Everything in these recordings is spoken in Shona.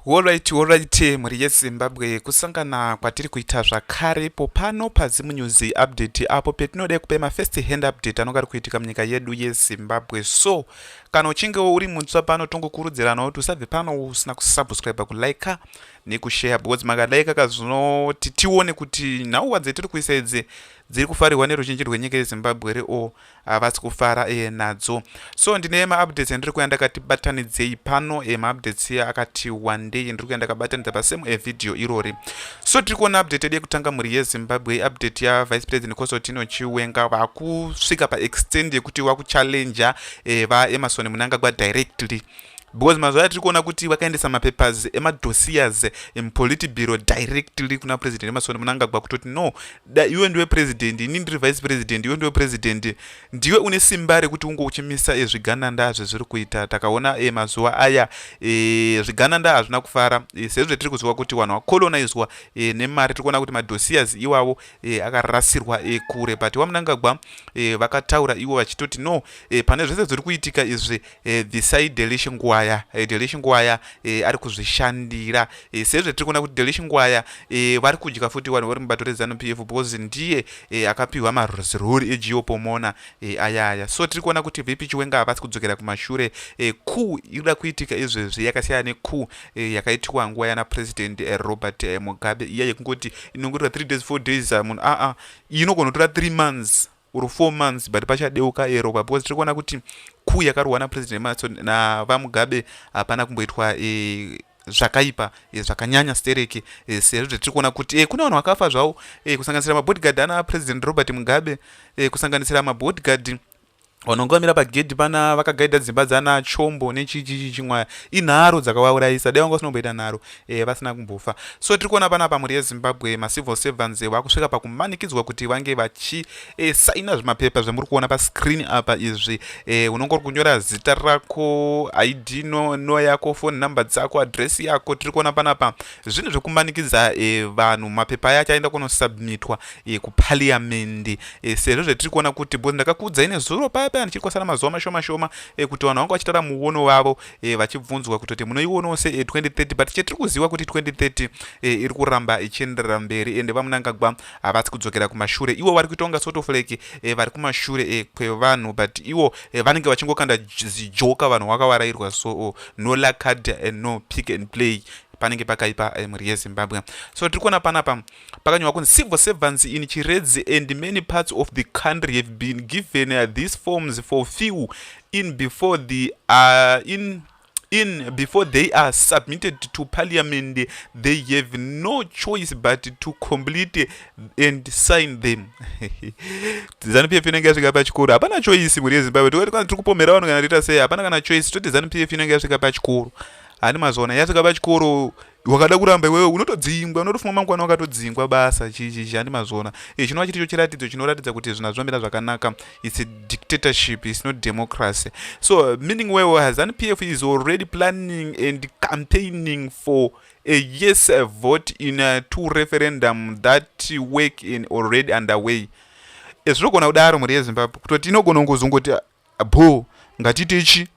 Horaiti horaiti mhuri yeZimbabwe kusangana kwatiri kuita zvakare ipo pano paZim News Update apo petinoda kupa ma first hand update anonga ari kuitika munyika yedu yeZimbabwe so kana uchinge uri mutsva pano tongokurudzirana kuti usabve pano usina kusubscribe kulike nekushare because makalaika kazvinoti tione kuti nhau wadze tiri kuisa idzi dziri kufarirwa neruzhinji rwenyika yeZimbabwe here or havasi kufara e, nadzo so ndine maupdates andiri kuya ndakati batanidzei pano e, maupdates iya akati wandei ndiri kuya ndakabatanidza pasame evideo irori so tiri kuona update yedu yekutanga mhuri yezimbabwe update yavice president cosotino chiwenga vakusvika paextend yekuti wakuchallenger e, vaemarson munangagwa directly because mazuva atiri kuona kuti vakaendesa mapapers emadosiers emupolitibiro directly kuna president emasoni munangagwa kutoti no da iwe ndiwe president ini ndiri vice president iwe ndiwe president ndiwe une simba rekuti unge uchimisa e, zvigananda zvezviri kuita takaona e, mazuva aya e, zvigananda hazvina kufara e, sezvo tiri kuziva kuti vanhu vakolonizwa e, nemari tiri kuona kuti madosiers iwavo e, akarasirwa e, kure but wamunangagwa e, vakataura ivo vachitoti no e, pane zvese zviri kuitika izvi e, this side delish ngwaya e, eh, delish ngwaya e, ari kuzvishandira e, sezve tiri kuona kuti delish ngwaya e, vari kudya futi vanhu vari mubato rezanup f because ndiye e, akapiwa maruziruri egeo pomona e, ayaya so tiri kuona kuti vp chiwenga havasi kudzokera kumashure e, ku ikuda kuitika izvezvi yakasiyana neku e, yakaitiwa nguva yana president e, robert e, mugabe iya yekungoti inongorira 3 days 4 days ah, munhu aa ah, ah, inogona kutora 3 months or four months but pachadeuka eropa because tiri kuona kuti kuu yakarwa napresident maso navamugabe hapana kumboitwa e, zvakaipa e, zvakanyanya stereki e, sezvo zvatiri kuona kuti e, kune vanhu vakafa zvavo e, kusanganisira mabodyguard ana president robert mugabe e, kusanganisira mabodyguard vanongamira pagedhi pana vakagaidha dzimba dzana chombo nechichichi chimwaya inharo dzakavaurayisa dai vanga vasinomboita nharo e, vasina kumbofa so tiri kuona pana pamhuri yezimbabwe macivil servants eh, vakusvika pakumanikidzwa kuti vange vachisaina eh, zvimapepa zvamuri kuona pascreen apa izvi e, unonge uri kunyora zita rako id no, no yako phone number dzako adress yako tiri kuona panapa zvinhu zvekumanikidza e, vanhu mapepa aya achaenda kunosubmitwa e, kupaliamendi e, sezvo zvetiri kuona kuti bcause ndakakuudzai nezuro paya paya ndichiri kwasara mazuva mashoma shoma e, kuti vanhu vanga vachitara muono vavo e, vachibvunzwa kutoti munoionawo se 2030 but chetiri kuziva kuti 2030 e, iri kuramba ichienderera mberi ende vamunangagwa havasi kudzokera kumashure ivo vari kuitonga sort of like e, vari kumashure e, kwevanhu but ivo e, vanenge vachingokanda zijoka vanhu vakavarairwa so oh, no lacard and eh, no pick and play panenge pakaipa eh, mhuri yezimbabwe so tiri kuona panapa pakanyorwa kunzi civil servants in chiredzi and many parts of the country have been given uh, these forms for few in before the uh, in in before they are submitted to parliament they have no choice but to complete and sign them zanu pf inenge yasvika pachikoro hapana choice mhuri yezimbabwe tokati kana tiri kupomera vanhu kana tiita sei hapana kana choice toti zanu pf inenge yasvika pachikoro hani mazoona yasvika pachikoro wakada kuramba iwewe unotodzingwa unotofunga mangwana wakatodzingwa basa chizhani mazvona e, chinova chiri cho chiratidzo chinoratidza kuti zvinhu hazvimamira zvakanaka its a dictatorship its not democracy so meaning wewe hazan p f is already planning and campaigning for a yes a vote in a two referendum that work in already underway e, zvinogona kudaro mhuri yezimbabwe kutoti inogona kuzongoti bho ngatiti ichi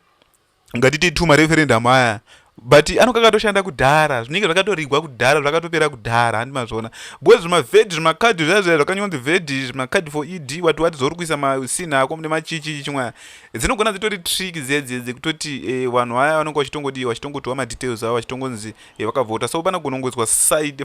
ngatiti two mareferendum aya but anonga akatoshanda kudhara zvinenge zvakatorigwa kudhara zvakatopera kudhara handi mazviona bcoz zvimaved zvimakadhi zviya zviya zvakanyonzi ved zvimakadhi for ed wati wati zvauri kuisa masina ako mune machichi chimwaya dzinogona dzitori trick dziyadziya dzekutoti eh, vanhu vaya vanonga vachitongodi vachitongotwa madetails avo vachitongonzi eh, vakavhota so pana gonongoiswa side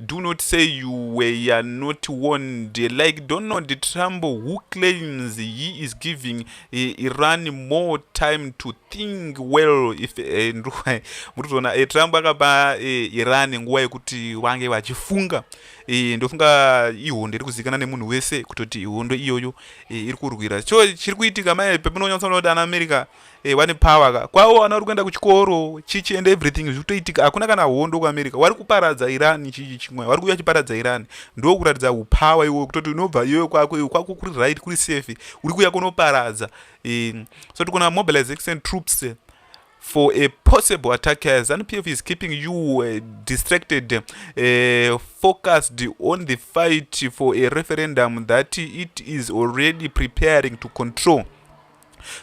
Do not say you were not warned like Donald Trump who claims he is giving eh, Iran more time to think well if eh, ndikuwa murikuzoona eh, Trump akapa eh, Iran nguva yekuti vange vachifunga eh, ndofunga ihondo iri kuzikana nemunhu wese kutoti ihondo iyoyo eh, iri kurwira cho chiri kuitika mai pemunonyatsoona kuti ana America Hey, eh, wane power ka kwawo ana uri kuenda kuchikoro chichi and everything zviri kutoitika hakuna kana hondo kuamerica wari kuparadza iran chichi chimwe wari kuuya chiparadza iran ndo kuratidza upower iwo kutoti unobva iyoyo kwako iwe kwako kuri right kuri safe uri kuuya kunoparadza um, so tikona mobilization troops eh, for a possible attack as npf is keeping you uh, distracted uh, focused on the fight for a referendum that it is already preparing to control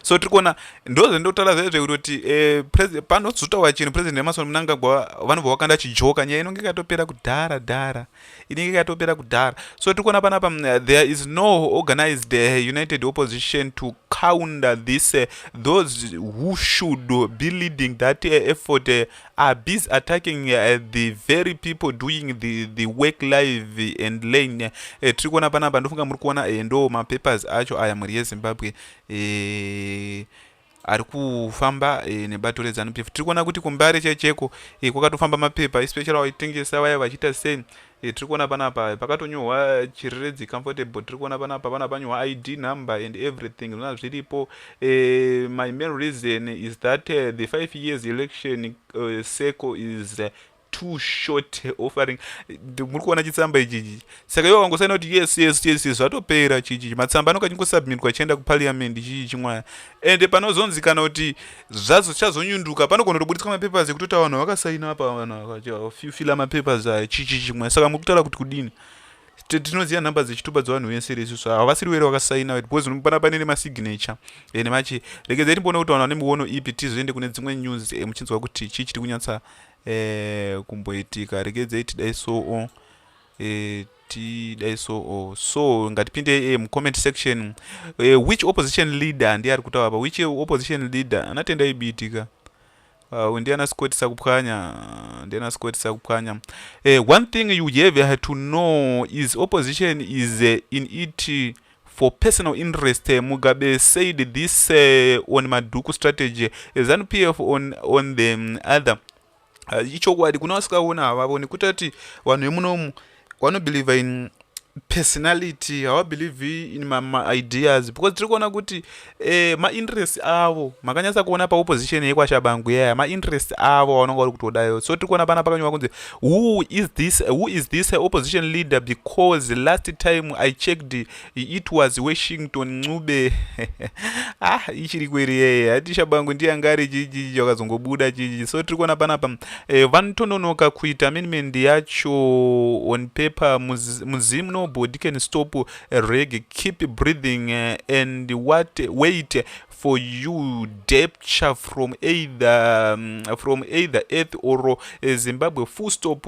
so tiri kuona ndozvendokutaura zvaizve kutoti eh, panozotaura chinhu president emasoni munangagwa vanobva vakanda chijoka nyaya inonge ikatopera kudhara dhara inenge ikatopera kudhara so tiri kuona panapa mm, there is no organized eh, united opposition to counter this eh, those who should be leading that effort are busy attacking uh, the very people doing the, the work live and lane uh, eh, tiri kuona panapa ndofunga muri kuona uh, ndo mapapers acho aya mhuri yezimbabwe uh, ari kufamba e, nebato rezanup f tiri kuona kuti kumbare checheko e, kwakatofamba mapepa especially vaitengesa vaya vachiita sei Eh, tiri kuona panapa pakatonyorwa chiriredzi comfortable tiri kuona panapa vana panyorwa id number and everything zvona zviripo uh, my main reason is that uh, the five years election uh, circle is uh, too short offering muri kuona chitsamba ichichi saka ivo vangosaina kuti yes yes yes yes zvatopera chichichi matsamba anoka chingosubmitwa chienda kuparliament chichi chimwaya ende panozonzikana kuti zvazochazonyunduka panogona kutoburitswa mapapers ekutoti vanhu vakasaina apa vanhu fila mapapers aya chichi chimwe saka muri kutaura kuti kudini tinoziva nhamba dzechitupa dzevanhu vese resu so havasiri were vakasaina because unopana pane nemasignature ende machi regedzai timboona kuti vanhu vane miono ipi tizoende kune dzimwe news eh, muchinzwa kuti chii chiri kunyatsa eh, kumboitika regedzai tidai soo eh, tidai so or oh, so ngatipinde e eh, mucomment section e, which opposition leader ndiye ari kutaura pa which opposition leader anatenda ibitika uh, ah, ndiana sikwetisa kupwanya ndiana sikwetisa kupwanya e, one thing you have to know is opposition is uh, in it for personal interest uh, mugabe said this uh, on maduku strategy uh, zanupf on, on the um, other ah, ichokwadi kuna vasikaona havavoni kuita kuti vanhu vemunomu vanobelieve in personality havabelieve in maideas because tiri kuona kuti eh, mainterest avo makanyatsa kuona paopposition yekwashabangu yaya mainterest avo avanonga vari kutodayo so tiri kuona pana pakanyorwa kunzi who is this who is this opposition leader because last time i checked it was washington ncube ah ichiri kweri yeye hati shabangu ndiye anga ari chichi chakazongobuda chichi so tiri kuona panapa eh, vanotononoka kuita amendment yacho on paper muzimu nobody can stop reg keep breathing eh, and what wait for you depture from either um, from either earth or eh, zimbabwe full stop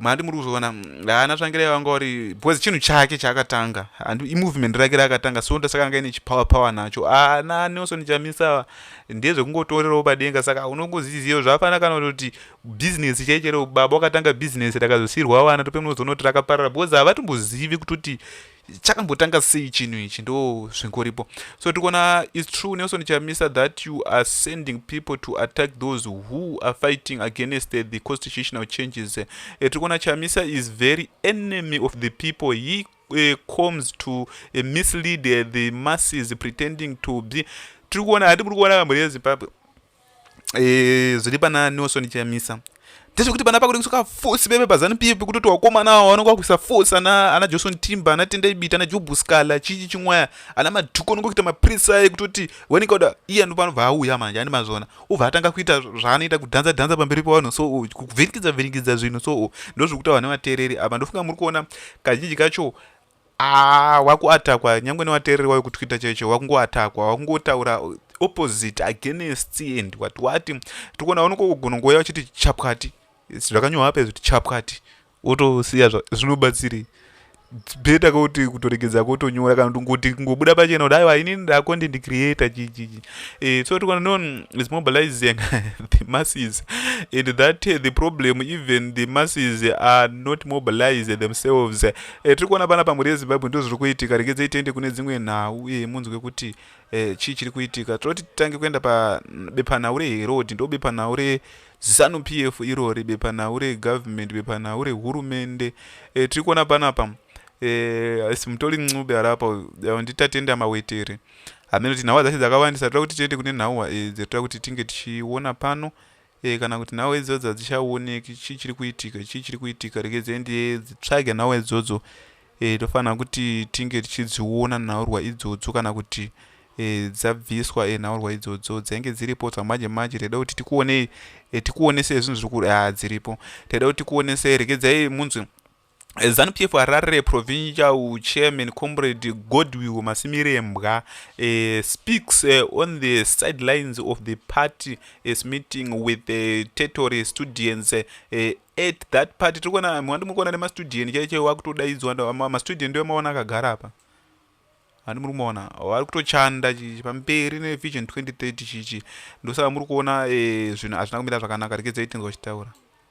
mhandi muri kuzoona mm, haana tsvangirai vanga uri because chinhu chake chaakatanga and imovement rake raakatanga so ndosaka anga ine chipower power nacho ana nelson chamisa ndezvekungotorerawo padenga saka unongoziziva zvafanira kana kuti business chaichere baba wakatanga business rakazosirwa vana tope munozonoti rakaparara because havatombozivi kutoti chakambotanga sei chinhu ichi ndo zvingoripo so tikuona is true nelson chamisa that you are sending people to attack those who are fighting against the, the constitutional changes e, eh, tikuona chamisa is very enemy of the people he uh, comes to uh, mislead uh, the masses pretending to be tiri kuona hati kuri kuona kamhuri yezimbabwe e, zviri pana nelson chamisa ndezvekuti pana pakuda kusoka fosi veve pazanu pf kutoti wakomana awo vanenge vakuisa fosi ana ana johnson timba ana tenda ibita ana jobu scala chichi chimwaya ana madhuku anenge kuita maprisa aye kutoti wanenge uda iye anovanobva auya manje ani mazvona ubva atanga kuita zvaanoita kudhanza dhanza pamberi pavanhu so oh, kuvhiringidza vhiringidza zvinhu so oh, ndozvekuti vane vateereri apa ndofunga muri kuona kazhinji kacho Aah wakuatakwa nyangwe newateereri wayo kutwitter chaicho wakungoatakwa wakungotaura opposite against and wati wati tikuona unokogona ngoya uchiti chapwati zvakanyohwa apa izvi kuti chapwati wotosiya zvinobatsirei beta kuti kutoregedza kotonyora kana kuti ngoti kungobuda pachena kuti aiwa inini ndacontent creator chichichi eh, so tikuona no is mobilizing the masses and that uh, the problem even the masses are not mobilized themselves Eh, tiri kuona panapa mhuri yezimbabwe ndo zviri kuitika regedzei tiende kune dzimwe nhau uye munzwe kuti eh, chii chiri kuitika tinoti titange kuenda pabepanhau reherod ndo bepanhau rezanu p f irori bepanhau regovernment bepanhau rehurumende eh, tiri kuona panapa asi mutori ncube harapa nditatenda mawetere hameno kuti nhau dzacho dzakawandisa tira kuti tiende kune nhau dzatira kuti tinge tichiona pano Eh kana kuti nhau idzodzo hadzichaoneki chii chiri kuitika chii chiri kuitika regedzei nditsvage nhau idzodzo e, tofanira kuti tinge tichidziona nhaurwa idzodzo kana kuti e, dzabviswa e, nhaurwa idzodzo dzainge dziripo dzamanje manje taida kuti tikuonei e, tikuonesei zvinhu zviri kuri a ah, dziripo taida kuti tikuonesei regedzai munzwi Zanu PF Harare Provincial Chairman Comrade Godwill Masimirembwa uh, speaks uh, on the sidelines of the party is meeting with the territory students uh, at that party tiri kuona mwandi muri kuona nemastudent chaiche wakutodaidzwa mastudent ndiwo maona akagara apa handi muri kumaona vari kutochanda chichi pamberi nevision 2030 chichi ndosaka muri kuona zvinhu hazvina kumira zvakanaka rekedzeyi tinzwa chitaura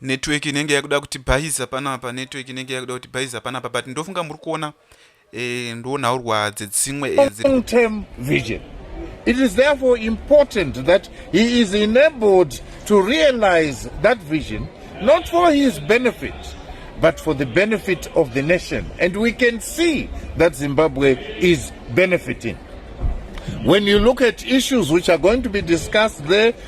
network inenge yakuda kuti bhaiza panapa network inenge yakuda kuti bhaiza panapa but ndofunga muri kuona eh, ndonhaurwa dzedzimwe eh, long term vision it is therefore important that he is enabled to realize that vision not for his benefit but for the benefit of the nation and we can see that zimbabwe is benefiting when you look at issues which are going to be discussed there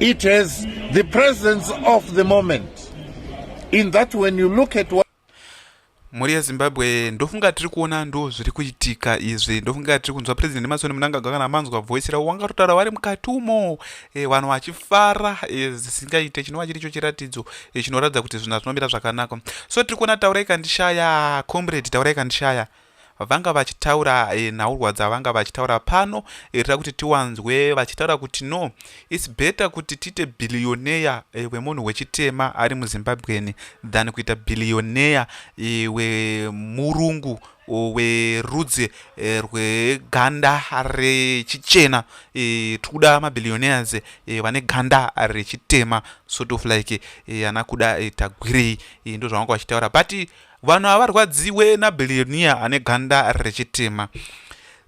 It has the presence of the moment in that when you look at what mhuri yezimbabwe ndofunga tiri kuona ndo zviri kuitika izvi ndofunga tiri kunzwa president emasoni munangagwa kana manzwa voice ravo wangatotaura vari mukati umo e, vanhu vachifara e, zvisingaite e, chinova chiri cho chiratidzo e, chinoratidza kuti zvinhu zvinomira zvakanaka so tiri kuona taurai kandishaya comrade taurai kandishaya vanga vachitaura e, nhaurwa dzavanga vachitaura pano irira kuti tiwanzwe vachitaura kuti no its better kuti tiite billionaire e, wemunhu wechitema ari muzimbabweni than kuita billionaire e, wemurungu werudzi e, rweganda rechichena e, tikuda mabillionaires e, vane ganda rechitema sort of like e, ana kuda e, tagwirei e, ndozvavanga vachitaura but vanhu havarwadziwe nabillionia ane ganda rechitema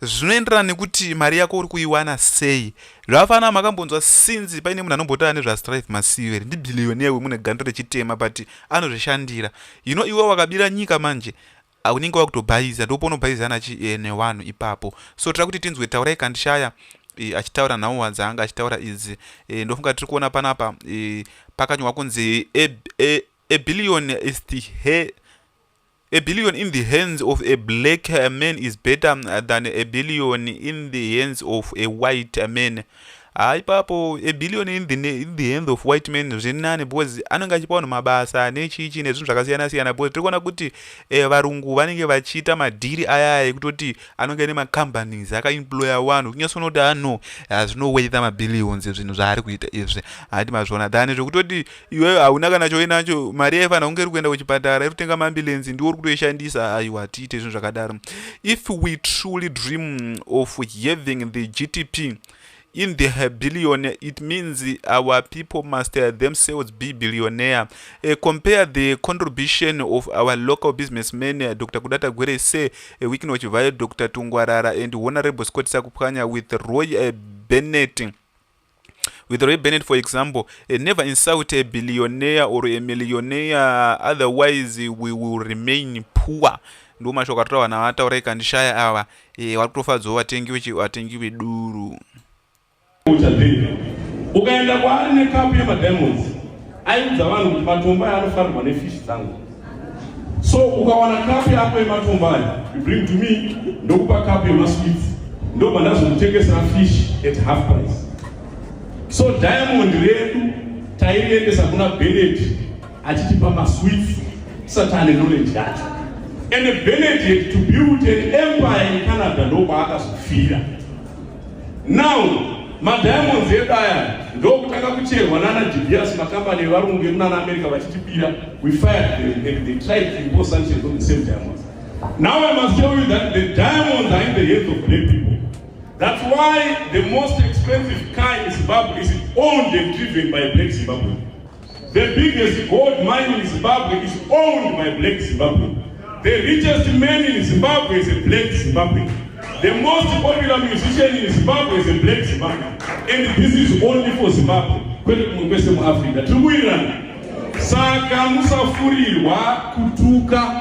zvinoenderana nekuti mari yako uri kuiwana sei zvakafanana makambonzwa sinzi paine munhu anombotaura nezvastrive masiver ndibillionia wemune ganda rechitema but anozvishandira you know iwe wakabira nyika manje unenge wakutobhaiza ndoponobhaiza nachi eh, newanhu ipapo so tira kuti tinzwe taurai kandishaya e, achitaura nhau dzaanga achitaura idzi e, ndofunga tiri kuona panapa e, pakanyorwa kunzi e, e, A billion is the hair A billion in the hands of a black man is better than a billion in the hands of a white man haa ipapo a billion in the, in the hands of white man zvinani because anenge achipa vanhu mabasa nechichi nezvinhu zvakasiyana siyana because tiri kuona kuti eh, varungu vanenge vachiita madhiri ayaya ekutoti anenge ane macompanies akaemploya vanhu kunyasoona kuti ano ah, hazvinoweitha mabillions zvinhu zvaari kuita izvi hati mazviona than zvekutoti iwewe hauna kana choinacho mari yaifanira kunge iri kuenda kuchipatara iri kutenga maambulensi ndiwo uri kutoishandisa aiwa tiite zvinhu zvakadaro if we truly dream of having the gtp in the billionaire it means our people must themselves be billionaire uh, compare the contribution of our local businessman uh, dr kudata gwere se uh, wikinoch vayo dr tungwarara and honorable scott sakupwanya with roy uh, bennett with Ray Bennett, for example, uh, never insult a billionaire or a millionaire, otherwise we will remain poor. ndo mashoko atotaura vanhu avataura ikandishaya ava e, vari kutofadzawo vatengi vatengi veduru ukaenda kwaari nekapu yemadiamonds Aiudza vanhu kuti matombo aya anofanirwa nefishi dzangu. So ukawana kapu yako yematombo aya, you bring to me, ndokupa kapu yemasweets. Ndobva ndazomutengesera fish at half price. So diamond redu tairiendesa kuna Bennett achitipa masweets tisati ane knowledge yacho. And Bennett had to build an empire in Canada ndokwaakazofira. Now madiamonds edu aya ndokutanga kucherwa nana Dibias makambani evarungu emunana America vachitibira we fired them they, they tried to impose sanctions on the same diamonds now I must tell you that the diamonds are in the hands of black people that's why the most expensive car in Zimbabwe is owned and driven by a black Zimbabwean The biggest gold mine in Zimbabwe is owned by black Zimbabwe. The richest man in Zimbabwe is a black Zimbabwe. The most popular musician in Zimbabwe is a black Zimbabwe. And this is only for Zimbabwe. Kwete kumwe kwese muAfrica. Tiri kuwirirana. Saka musafurirwa kutuka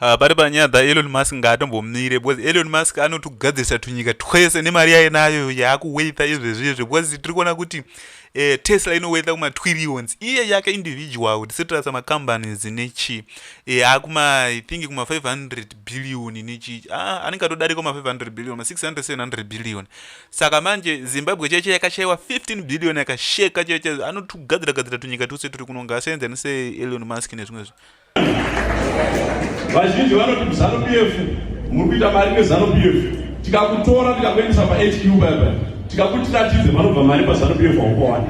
Ah, pari panyaya dzaelon musk ngaatombomire because elon musk anotogadzirisa tunyika twese nemari yaye nayo yaakuweitha izvezvi izvi because tiri kuona kuti eh, tesla inoweitha kumatwirions iye yake individual tisetirasa macompanies nechi eh, akuma i think kuma 500 billion nechi ah, anenge atodarika ma 500 billion ma 600 700 billion saka manje zimbabwe cheche yakashaiwa 15 billion yakasheka cheche anotogadzira gadzira tunyika twese turi kunonga asenza neseelon musk nezvimwe zvi Vazhinji vanoti muZanu PF muri kuita mari neZanu PF. Tikakutora tikakuendesa paHQ baba tikakuti tatidze vanobva mari paZanu PF haukowana.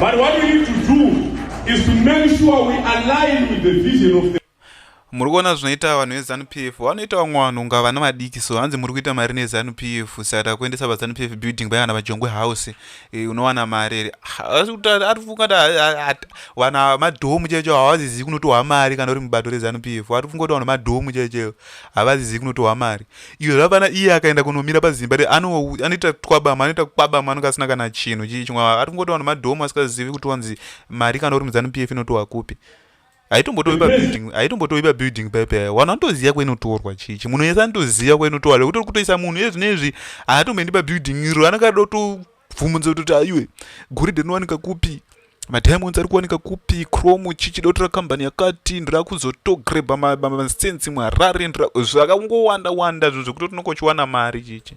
But what we need to do is to make sure we align with the vision of the muri kuona zvinoita vanhu vezanu p f vanoita vamwe vanhu unga vana vadiki so hanzi muri kuita mari nezanu p f saka takuendesa vazanu p f building vaya kana vajongwe house eh, unowana mari here ari kufungati vanhu ava madhomu chaicho havazizivi kunotohwa mari kana uri mubato rezanu p f ari kufungati vanhu madhomu chaicho havazizivi kunotohwa mari iyo zvapana iye akaenda kunomira pazimba re anoita twabama anoita kwabama anonge asina kana chinhu chii chimwe ari kufungati vanhu madhomu asikazivi kuti wanzi mari kana uri muzanu p f inotohwa kupi haitombotovi pabuilding haitombotovi pabuilding paipi ayo vanhu vanotoziva kwainotorwa chichi munhu yese anotoziva kwainotorwa lekuti uri kutoisa munhu iye zvine izvi haatomboendi pabuilding iro anenge ada kutobvumudza kutoti aiwe goridhe rinowanika kupi madiamonds ari kuwanika kupi chrome chichi dotora kambani yakati ndira kuzotogrebha masensi muharare zvakangowanda wanda zvo zvekuti tinokochiwana mari chichi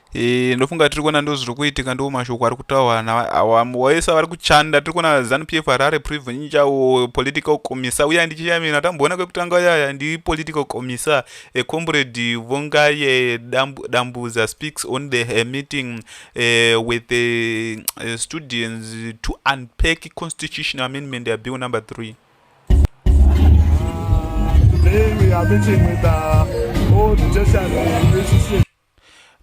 Eh, ndofunga tiri kuona ndo zviri kuitika ndo mashoko ari kutaurwa nawaisa vari kuchanda tiri kuona zanu p f harare privinca political commissar uya ndichiyamina tamboona kwekutanga uyaya ndi political commissar ecomrade vongaye dambuza speaks on the eh, meeting eh, with the eh, students to unpack constitutional amendment ya bill number three Today we are meeting with the uh, old Jessica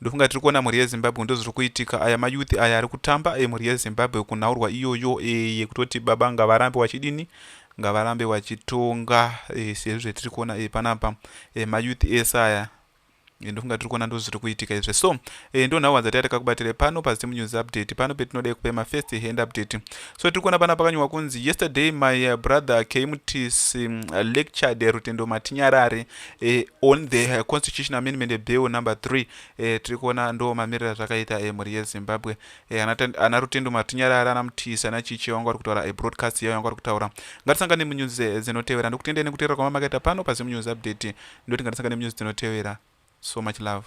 Ndofunga tiri kuona mhuri yezimbabwe ndozviri kuitika aya mayouth aya ari kutamba emhuri yezimbabwe kunhaurwa iyoyo e, yekutoti baba ngavarambe wachidini ngavarambe wachitonga e, eh, sezvo zvetiri kuona e, panapa e, mayouth ese aya Eh, ndofunga tiri kuona ndozviri kuitika izve so eh, ndo nhau wadzati atakakubatire pano pazim news update pano petinoda kupa mafirst hand update so tiri kuona pana pakanyorwa kunzi yesterday my eh, brother kmts mm, lectured rutendo matinyarare eh, on the eh, constitution amendment eh, bill number three eh, tiri kuona ndo mamiriro azvakaita eh, mhuri yezimbabwe eh, ana rutendo matinyarara ana mutisa ana chichi vanga vari kutaura eh, broadcast yavo vanga vari kutaura ngatisangane munyuzi eh, dzinotevera ndokutendei nekuteerera kwamamakaita pano pazimunews update ndoti ngatisangane munyuzi dzinotevera so much love